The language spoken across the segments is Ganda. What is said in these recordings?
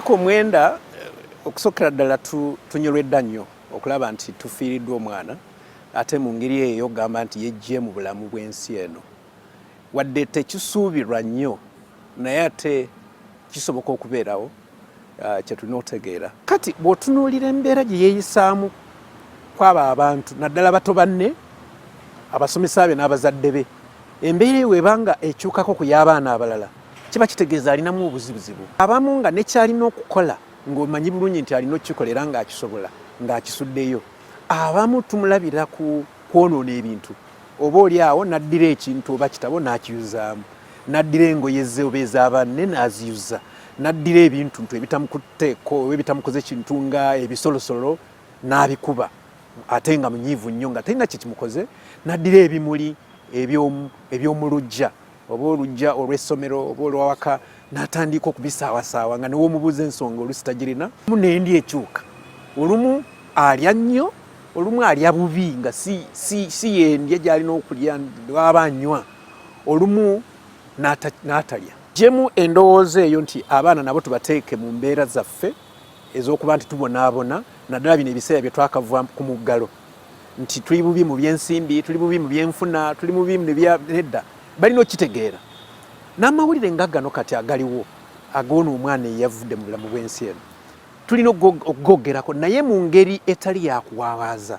myaka omwenda eh, okusokera ddala tunyolwedda nnyo okulaba nti tufiiriddwa omwana ate mu ngeri eyo okugamba nti yejje mu bulamu bw'ensi eno wadde tekisuubirwa nnyo naye ate kisoboka okubeerawo Ah, kyetulina otegeera kati bwotunuulira embeera gye yeeyisaamu kwabo abantu naddala bato banne abasomesa be n'abazadde be embeera eyo ebanga ekyukako ku y'abaana abalala kiba kitegeeza alinamu obuzibuzibu abamu nga nekyalina okukola ng'omanyi bulungi nti alina okukikola era ng'akisobola ng'akisuddeyo abamu tumulabira ku kwonoona ebintu oba oli awo n'addira ekintu oba kitabo n'akiyuzaamu n'addira engoye ze oba eza banne n'aziyuza n'addira ebintuntu ebitamukutteko oba ebitamukoze kintu nga ebisolosolo n'abikuba ate nga munyiivu nnyo nga talina kye kimukoze n'addira ebimuli eby'omu luggya oba oluggya olw'essomero oba olwawaka n'atandika okubisaawasaawa nga newoomubuuza ensonga olusi tagirina mu n'endi ekyuka olumu alya nnyo olumu alya bubi nga si yendya gy'alina okulya waba anywa olumu n'atalya. Jemu endowooza eyo nti abaana nabo tubateeke mu mbeera zaffe ez'okuba nti tubonaabona naddala bino ebiseera bye twakava ku muggalo nti tuli bubi mu byensimbi tuli bubi mu byenfuna tuli mu bimu nedda balina okukitegeera n'amawulire nga gano kati agaliwo agoona omwana eyavudde mu bulamu bw'ensi eno tulina okugogerako naye mu ngeri etali yakuwawaaza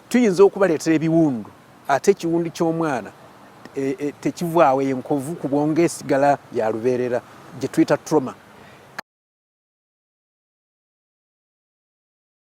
tuyinza okubaleetera ebiwundu ate ekiwundu ky'omwana e, e, tekivaawo enkovu ku bwongo esigala ya lubeerera gye tuyita trauma